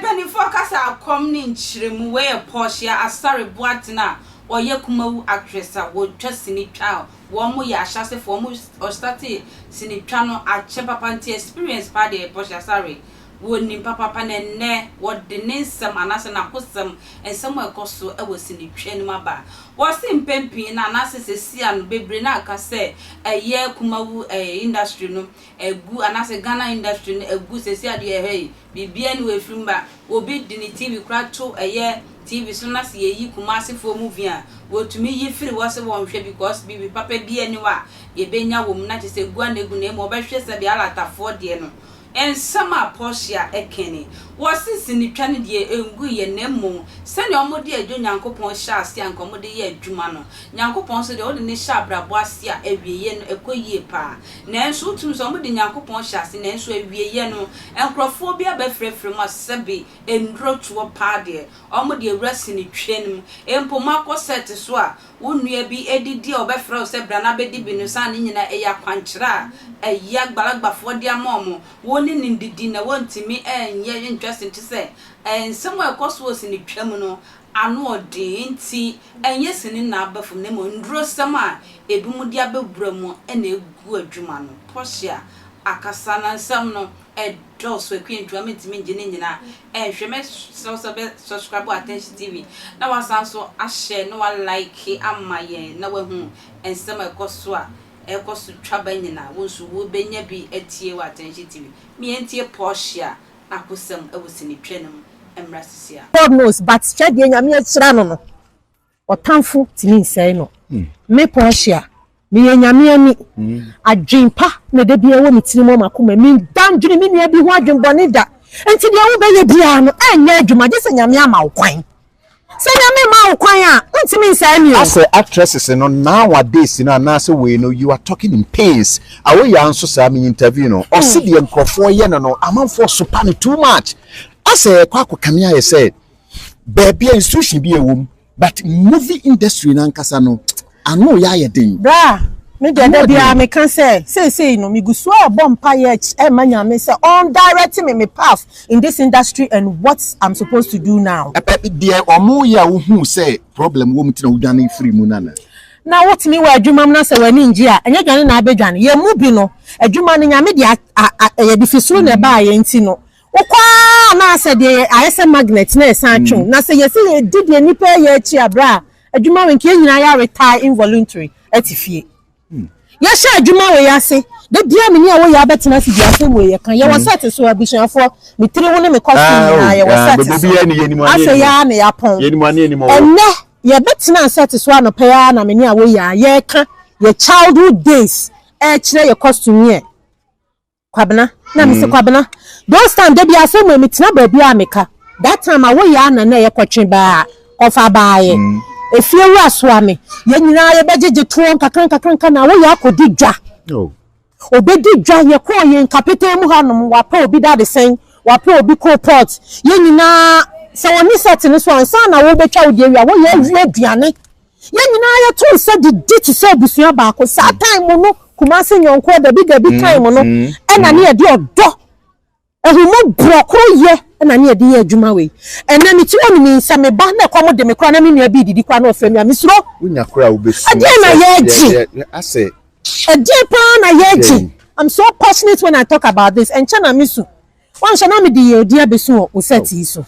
Mpanyimfo kasa kɔm ne nkyerɛmu wɔ yɛ Portia Asare Boateng a ɔyɛ Kumawu actress a wɔtwa sini twa a wɔn yɛ ahyɛasefo wɔn ɔstartee sini twa no akyɛ papa nti experience paa deɛ Portia Asare Wonim papaapa na ɛnnɛ wɔde ne nsɛm anaasɛ n'akosɛm, nsɛm a ɛkɔ so wɔ sinitwaa no mu aba. Wɔse mpɛn pii no anaasɛ sesia no bebree no a ɛka sɛ ɛyɛ Kumawu ɛɛ industry no agu anaasɛ Ghana industry no agu sesia a deɛ ɛhɛi biribiara nni hɔ a ɛfiri mu ba. Obi de ne TV koraa to ɛyɛ TV so na sɛ yɛyi Kumasefoɔ movie a wɔtumi yi firi hɔ sɛ wɔnhwɛ because biribi papa biara nni hɔ a yɛbɛnya wɔ mu na kyerɛ sɛ gu ara na ɛgu na mmom wɔbɛhwɛ sɛdeɛ Alatafoɔ deɛ no Nsɛm a Portia kae ni, Wɔse sinitwa no deɛ ɛnguiɛ na mmom sɛdeɛ wɔde adwo Nyankopɔn hyɛɛ aseɛ a anka wɔde yɛ adwuma no, Nyankopɔn nso deɛ wode no hyɛ abrabɔ aseɛ a awieɛ no ɛkɔ yie paa. Nanso wotumi sɛ wɔde Nyankopɔn hyɛ aseɛ nanso awieɛ no nkorɔfoɔ bi abɛfrɛfrɛ mu a sɛbe nnuro toɔ paa deɛ wɔde awura sinitwa no mu. Mpo moakɔ set so a wo nua bi redi di a wɔbɛfrɛ wo sɛ bra na bedi bi no saa ne nyinaa ɛyɛ akwankyerɛ a ɛyɛ agbalagbafoɔ de ama wɔn. Wɔn ne no ndidi na wɔntumi nyɛ ntwa sin te sɛ nsɛm a ɛkɔ so wɔ sini twa mu no ano ɔden nti ɛnyɛ sini na aba fam na mmom ndurosɛm a ebinom de abɛwura mu na egu adwuma no. Portia akasa na nsɛm no. ɛdɔɔso akwantu a mentumi ngye ne nyinaa nhwɛ. Mɛsrɛ wo sɛ wobɛ subscribe Attention TV na woasan nso a share na woa like ama yɛn na woahu nsɛm a ɛkɔ so a ɛkɔ so twa ba nyinaa. Wo nso wobɛnya bi atie wɔ Attention TV. Me yɛntie Portia akosɛm wɔ sinitwa no mu mmra sisi a. God knows but hwɛ deɛ Nyame ahyira no no. Ɔtamfo tumi nsɛe no. Me Portia, meyɛ Nyame ani. Adwen pa na ɛda biara ɛwɔ me tirim wɔ m'akomam. Meda ndwene me nua bi ho adwen bɔne da. Enti deɛ wobɛyɛ biara no, ɛnyɛ adwuma gye sɛ Nyame ama wo kwan. Sɛ Nyame mmaa wo kwan a, wontumi nsɛe me o. Asɛ actresses no nowadays no anaasɛ wei no you are talking in pains. Awoyaa nso saa, me interview no, ɔse deɛ nkorɔfoɔ yɛ no no amanfoɔ sopa no too much. Asɛ ɛkɔ akɔkame ayɛ sɛ baabi a institution bi a ɛwɔ mu but movie industry nankasa no ano yɛ ayɛ den. bra me deɛ da biara meka sɛ seesei no megu so a ɛbɔ mpa yɛ ɛma nyame sɛ ɔn direct me me path in this industry and what i'm supposed to do now. ɛpɛ deɛ ɔmo yɛ a wohu sɛ problem wɔ mu ti na wodwane firi mu nana. na wotumi wɔ adwuma mu na sɛ w'ani ngye a ɛnyɛ dwane na abɛdwane yɛn mu bi no adwuma no nyame deɛ ɛyɛ de fi soro na ɛbaa yɛn ti no. Wokɔ ara na sɛ deɛ yɛ ayɛ sɛ magnet na yɛsan twe wo. Na sɛ yɛsi yɛdi deɛ nnipa reyɛ akyi a berɛ a adwuma wei nka yɛn nyinaa yɛ retire involuntary te fie. Yɛhyɛ adwuma wei ase da biara me ne a wɔyɛ abɛtena ase di asɛm wei yɛka yɛwɔ set so abusuafoɔ me tiri ho ne me kɔ school nyinaa yɛwɔ set so afei ara na yɛapɔn ɛnnɛ yɛbɛtena set so anɔpa yi ara na me ne a wɔyɛ a yɛka yɛ childhood days ɛrekyerɛ yɛ costume yɛ Kwabena, na mese Kwabena, those time da bi asɛm wei metena baabi a meka, that time awo yɛ a na na ɛyɛ kɔtwe baa a kɔfa baa yɛ efie wura soa me, yɛn nyinaa yɛbɛ gyegye toɔ nkakra nkakra nka na awo yɛ akɔdi dwa, ɔbɛdi dwa, yɛkɔɔ yɛn kapetee mu ha nom, wapɛ obi dadesɛn, wapɛ obi coal pot, yɛn nyinaa sɛ wɔne set no so a nsa na awo bɛtwa wo deɛ wie a awo yɛ awie aduane. Yɛn nyinaa yɛto nsa didi te sɛ abusua baako. Saa time mu no, Kumasi nyɔnkoɔ dabi dabi time mu no, ɛna ne yɛde ɔdɔ, ahummɔborɔ, koroyɛ ɛna ne yɛde yɛ adwuma wei. Ɛnɛ mekyerɛ wo menim sɛ me ba na ɛkɔm de me koraa na me nua bi redidi koraa na ɔfrɛ me a, mesuro. Wonya koraa a wobɛsuro sɛ Ɛdeɛn na yɛregye? yɛ yɛ asɛ Ɛdeɛn paa na yɛregye? dɛn? I'm so passionate when I talk about this. Ɛnkyɛ na mesu. Woanhwɛ na mede yɛn din abesu wɔ wo sɛɛt yi so.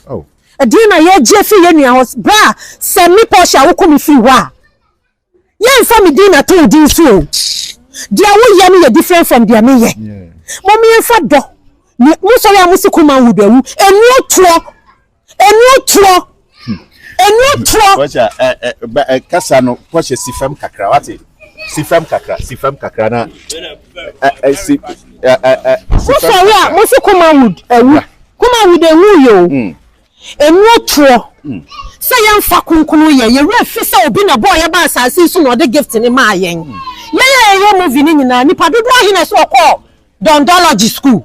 Ɛdeɛn na yɛregye afiri yɛn nua hɔ berɛ a sɛ me Portia woko me firi hɔ a, yɛremfa me din nnato wo din so o. Deɛ woyɛ no yɛ different from deɛ meyɛ. Mom yɛmfa dɔ ne mosɔre a mosi ko manhood awu nnuo toɔ. Ɛnuo toɔ. Ɛnuo toɔ. Kɔhyɛ ɛ ɛ ba ɛ kasa no kɔhyɛ si fam kakra wate si fam kakra si fam kakra na ɛ ɛ si ɛ ɛ ɛ si fam kakra. Mo sɔre a mo si kuma wood ɛwu kuma wood ɛwu yɛ o. Hmm. Ɛnuo toɔ. Hmm. Sɛ yɛn fa kunkunun yɛ yɛ wura fi sɛ obi na bɔɔ yɛ ba asaase so na ɔde gift ne maa yɛn. Hmm. Yɛ yɛ yɛ yɛ movie ne nyinaa nipa dodo ahi na ɛsɛ ɔkɔɔ dɔndɔlɔgy school.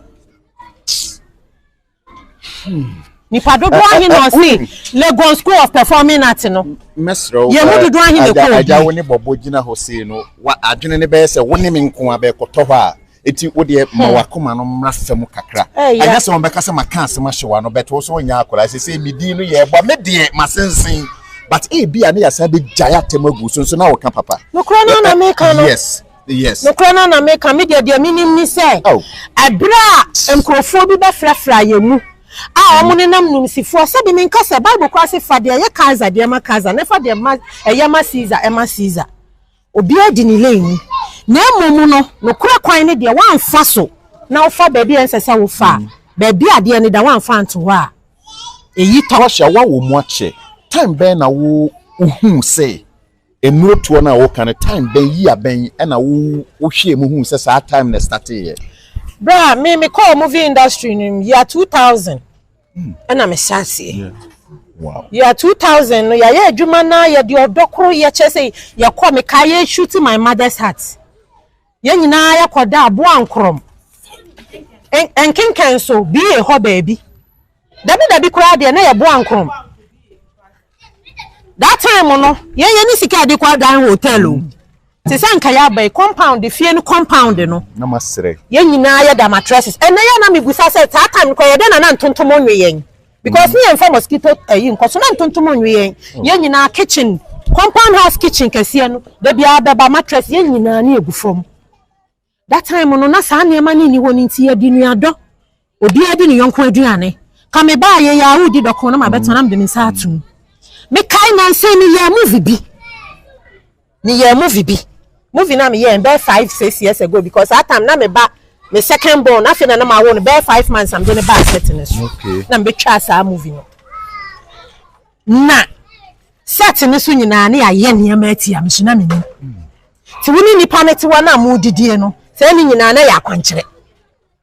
Nipa dodoɔ ahe na ɔse Legon School of Performing Art no? Mɛsrɛ wo Yɛn mu dodoɔ ahe na ɛkɔ agya obi? agya wo ne bɔbɔ gyina hɔ sei no wa adwene ne bɛyɛ sɛ wo ne me nko a bɛkɔtɔ hɔ a eti wo deɛ ma wakoma no mmra fam kakra Ɛyɛ. ɛnyɛ sɛ wɔbɛka sɛ maka asɛm ahyɛ w'ano bɛto wo so wonyɛ akwadaa sɛ sɛ me din no yɛ ɛbɔ a me deɛ masensen but ebi a ne yɛasan bɛgyae atɛm agu so nso na woka papa Nokorɛ no ara na meka no. yes Yes. Nokorɛ no na meka, me deɛ deɛ menim ne sɛ, Oh. ɛberɛ a nkorɔfoɔ bi bɛfrafraa yɛn mu a wɔn ne nam nimsifoɔ, sɛbe menka sɛ, Bible koraa se fa deɛ ɛyɛ Kaesar deɛ ma Kaesar, na fa deɛ ma ɛyɛ ma Caesar ma Caesar. Obiara di ne lane mu. Na mmom no, nokorɛ kwan ne deɛ woamfa so na wofa baabi a ɛnsɛ sɛ wofa a, baabi a adeɛ no da woamfa anto hɔ a, ɛyi tɔ. Portia, woawɔ mu akyɛ, time bɛn na wo wohuu sɛ Nnuro toɔ no a woka no time bɛn year bɛn ɛna wo wo hwɛɛ mu huu sɛ saa time na ɛstate yɛ? Berɛ a me me kɔɔ movie industry no mu year two thousand hmm. ɛna me hyɛ aseɛ. Yeah. Wow. Year two thousand no yɛayɛ adwuma no a yɛde ɔdɔ koro yɛkyɛ sɛ yɛkɔ me ka yɛ shoot my mother's heart. Yɛn nyinaa yɛkɔdaa Boankorɔm nkenkan so BA hɔ baabi. Dabidabi koraa deɛ na yɛ Boankorɔm. That time no, yɛn yɛne sika a yɛde kɔ adan hotel o. Te sɛ anka yɛaba yi, compound, fie no compound no. Na masrɛ. Yɛn nyinaa yɛda mattresses. Ɛnnɛ yɛ a na mebusa sɛ saa time no koraa yɛdɛn na na ntontom nwe yɛn? Because ne yɛmfa mosquito ayi nkɔ so na ntontom nwe yɛn. Yɛn nyinaa kitchen, compound house kitchen kɛseɛ no, da biara bɛba mattress yɛn nyinaa ani agu fam. That time no na saa nneɛma no nni hɔ no nti yɛde nuadɔ, obiara di ne yɔnko aduane. Ka mebaa yei a wodi dɔko na mabɛtena na mede me nsa atom. Mekae nansa yi meyɛɛ movie bi. Me yɛɛ movie bi movie na me yɛɛ no bɛyɛ five six years ago because that time na me ba me second born afei na na ma wo no bɛyɛ five months na me de ne ba set ne so okay. na me bɛ twa saa movie no na set ne so nyinaa ne ayɛ nneɛma ati a me so na me nim ti wo ne nipa ne tiwa na mo didie no sɛ ne nyinaa na yɛ akwankyerɛ.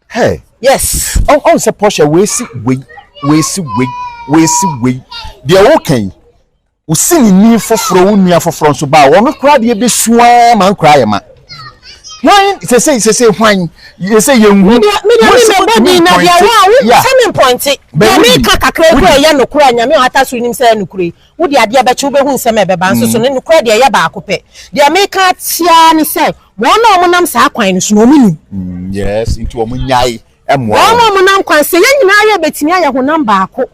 Hey. yes. ɔn ɔn sɛ pɔhyɛ wei si wei wei si wei wei si wei deɛ wɔka yi. Wo sinini foforɔ, wo nua foforɔ nso baa, wɔn koraa deɛ bɛsu ara ma nkoraa yɛ ma. Hwan sese sese hwan yɛsɛ yɛn hu. Media media mi mi bɔ din na deɛ wa wo sɛ mi mpɔnte. Deɛ mi ka kakra bi a ɛyɛ nokora nyame a wata so nim sɛ ɛyɛ nokora yi. Wo deɛ adeɛ bɛkye wo bɛhu nsɛm a ɛbɛba nso so ne nokora deɛ ɛyɛ baako pɛ. Deɛ mi ka tiaa ne sɛ wɔn a wɔn nam saa kwan no so na wɔn nim. Mm, yes, nti wɔn nyae ɛmoa wɔn. Wɔn a wɔn nam kwan sɛ yɛn nyinaa yɛ betumi ayɛ honam baako.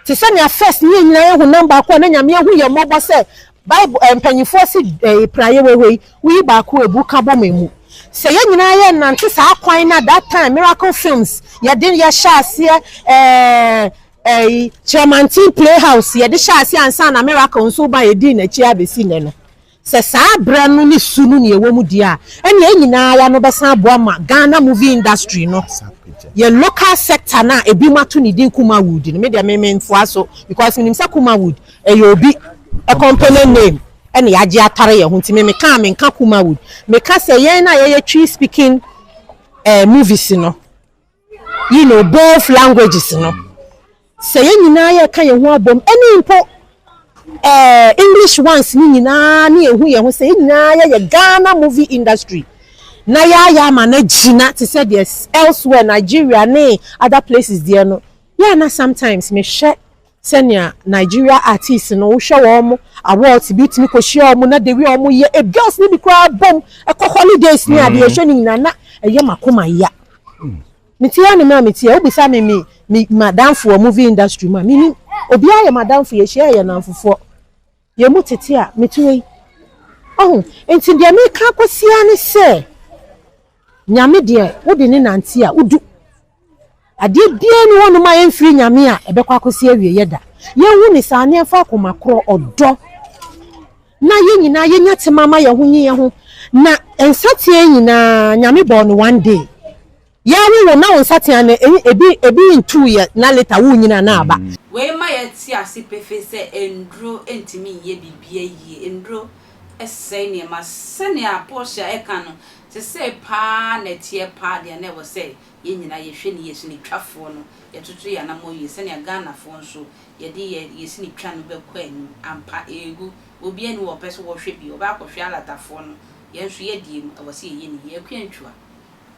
Te sɛ nea First ne yɛn nyinaa yɛ honam baako a na Nyame ahu yɛn mmɔbɔ sɛ Bible mpanimfoɔ se eh, praeɛ wawei, woyi baako abu ka bɔ ma emu. Sɛ yɛn nyinaa yɛ nnante saa kwan no a that time Miracle Films yɛde yɛhyɛ aseɛ eh, ɛyi Kyerɛmanten Playhouse yɛde hyɛ aseɛ ansa na Miracle nso ba yɛdii n'akyi abɛsi nnɛ no. Sɛ saa berɛ no ne su no na yɛwɔ mu deɛ a, ɛnna yɛn nyina ara no bɛsan aboa ma Ghana movie industry no, yɛn local sector no a ebinom ato ne din Kumawood no, me deɛ me mentoa so because menim sɛ Kumawood ɛyɛ obi company name ɛnna yɛagye atare yɛn ho nti me meka a menka Kumawood, meka sɛ yɛn a yɛyɛ Twi speaking eh, movies no. you know, both languages no, sɛ yɛn nyinaa yɛka yɛn ho abom, ɛne mpo eh, English ones no nyinaa ne yɛhu yɛn ho sɛ yɛn nyinaa yɛyɛ Ghana movie industry na yɛayɛ ama no agyina te sɛ deɛ elsewhere Nigeria ne other places deɛ no, yɛ na sometimes mehwɛ sɛnea Nigeria artists no wohwɛ wɔn awards bi tumi kɔ hyia wɔn na the way wɔn yɛ e girls ne bi koraa bom ɛkɔ holidays ne adeɛ ɛhwɛ ne nyinaa na ɛyɛ makoma ya me ti ya ne mmerɛ a me ti ya wobisa me me me madamfoɔ movie industry mu a me ni obiara yɛ madamfo yɛhyia yɛ nanfofoɔ. Yɛn mu tete a mete hɔ yi. Ɔho? Nti deɛ meka kɔsi ara ne sɛ, Nyame deɛ wode no nante a, wodu. Adeɛ biara nni hɔ nom a ɛmfiri Nyame a ɛbɛkɔ akɔsi awieɛ da. Yɛnhu no saa na yɛmfa akoma korɔ, ɔdɔ, na yɛn nyinaa yɛnya tema ma yɛn ho nye yɛn ho. Na nsateaa nyinaa, Nyame bɔɔ no one day. Yɛ wo wo na wo nsateaa no ɛyi ebi ebi ntu yɛ na later wo nyini anaa aba. Wei ma yɛ te ase pefee sɛ nnuro ntumi nyɛ biribiara yie. Nnuro sɛe nneɛma. Sɛnea Portia reka no, sesei paa na ɛteɛ paa deɛ na ɛwɔ sɛ yɛn nyinaa yɛhwɛ ne yɛ sini twafoɔ no, yɛtoto yɛn anamɔ yie sɛnea Ghanafoɔ nso yɛde yɛ yɛ sini twa no bɛkɔ anim. Ampa, ɛregu. Obiara nni hɔ ɔpɛ sɛ ɔhwɛ bi, ɔbɛakɔhwɛ alatafoɔ no. Yɛn nso yɛdeɛ mu, ɛwɔ sɛ yɛyɛ ne yie. Akua Ntua.